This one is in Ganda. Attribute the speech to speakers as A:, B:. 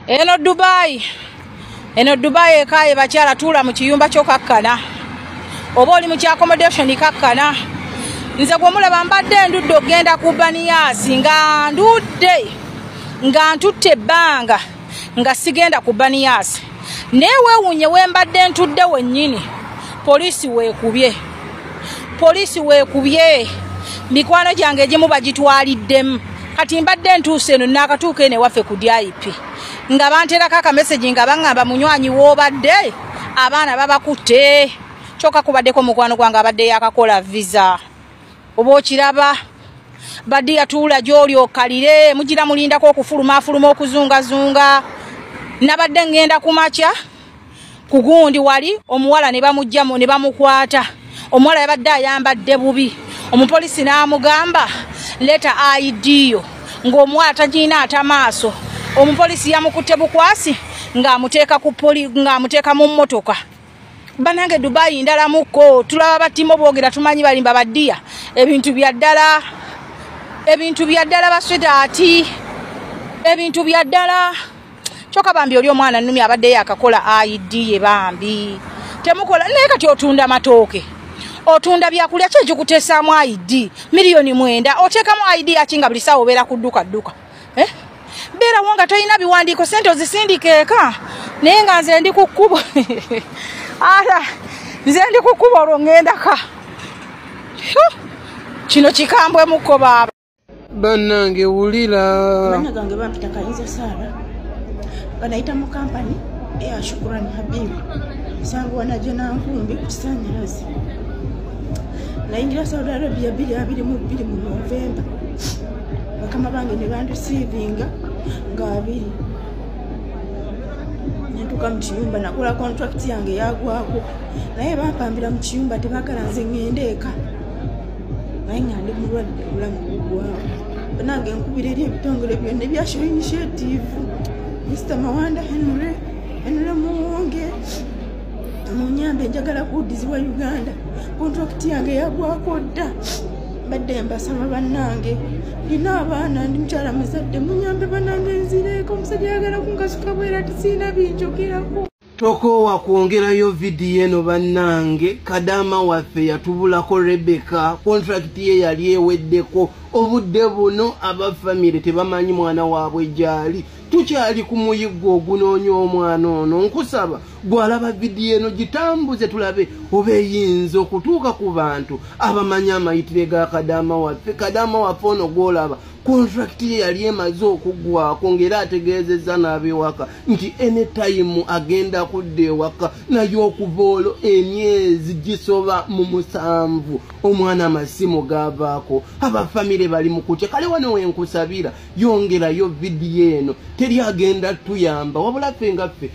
A: eno dubayi eno dubayi ekaye bakyala tuula mu kiyumba kyokakkana oba oli mu kyakomodation kakkana nze gwemulaba mbadde endudde okugenda ku baniyaasi nga ndudde nga ntutte ebbanga nga sigenda ku baniyaasi naye weewuunye we mbadde ntudde wennyini poliisi weekubye poliisi weekubye mikwano gyange egimu bagitwaliddemu kati mbadde ntuuse eno naakatuuka eno ewaffe ku dip nga banterako akamesegi nga baŋŋamba munywanyi woobadde abaana babakutte kyokka kubaddeko mukwano gwange abadde yakakola visa oba okiraba badi yatuula gyoli okalire mugira mulindako okufuluma afuluma okuzungazunga nabadde ngenda ku makya ku gundi wali omuwala ne bamugjamu ne bamukwata omuwala yabadde ayambadde bubi omupolisi n'amugamba leta aidiyo ng'omuwala tagirina ata maaso omupolisi yamukutte bukwasi ng'amuteeka mu mmotoka banange dubayi ndala muko tulaba batimo bwogera tumanyi balimba badiya ebintu byaddala ebintu byaddala basweta ati ebintu byaddala kyoka bambi oli omwana numi abaddeyo akakola id ye bambi temukola naye kati otunda matooke otunda byakulya kyekikutesaamu id miliyoni mwenda oteekamu id yaki nga buli saawa obeera kudduka dduka eh? beerawo nga tolina biwandiiko sente ozisindika eka naye nga nze ndi ku kkubo ara nze ndi ku kkubo olwo ŋŋendaka kino kikambwemukko baaba bannange
B: wulira banna gange
C: bampita kayinza saaba banayita mu kampani eya shukuran habibu sanguwana gyenankumbi ku kisanyalazi nayingira saudi arabia biri abiri mu biri mu novemba bakama bange ne bandisiivinga nga abiri nentuuka mu kiyumba nakola kontrakiti yange yagwako naye bampambira mu kiyumba tebagala nze ngende eka naye nga ndi mulwadde obulamu bugwawo banange nkubira eri ebitongole byonna ebyasho initiative mr mawanda henry henry muwonge munyambe njagala kuwudizibwa uganda kontrakiti yange yagwako dda mbadde mbasaba bannange nina abaana ndi mukyala muzadde munyambe banange nzireeko omusajja yagala kunkasuka bwera tisiina binjogerako tokoowa
B: kwongerayo vidiyo eno bannange kadaama waffe yatubulako rebeka kontrakiti ye yali eweddeko obudde buno aba famire tebamanyi mwana waabwe gyali tukyali ku muyiggo ogunoonya omwana ono nkusaba gwalaba vidiyo eno gitambuze tulabe oba eyinza okutuuka ku bantu abamanyi amayitire ga kadaama waffe kadaama waffe ono gwolaba kontrakiti ye yali emaze okuggwako ngaera ategeezezza n'abewaka nti enetayimu agenda kudda ewaka naye okuva olwo emyezi gisoba mu musanvu omwana amasimu gaavaako abafamire bali mu kutya kale wano wenkusabira yongerayo vidiyo eno teri agenda tuyamba wabula ffe nga ffe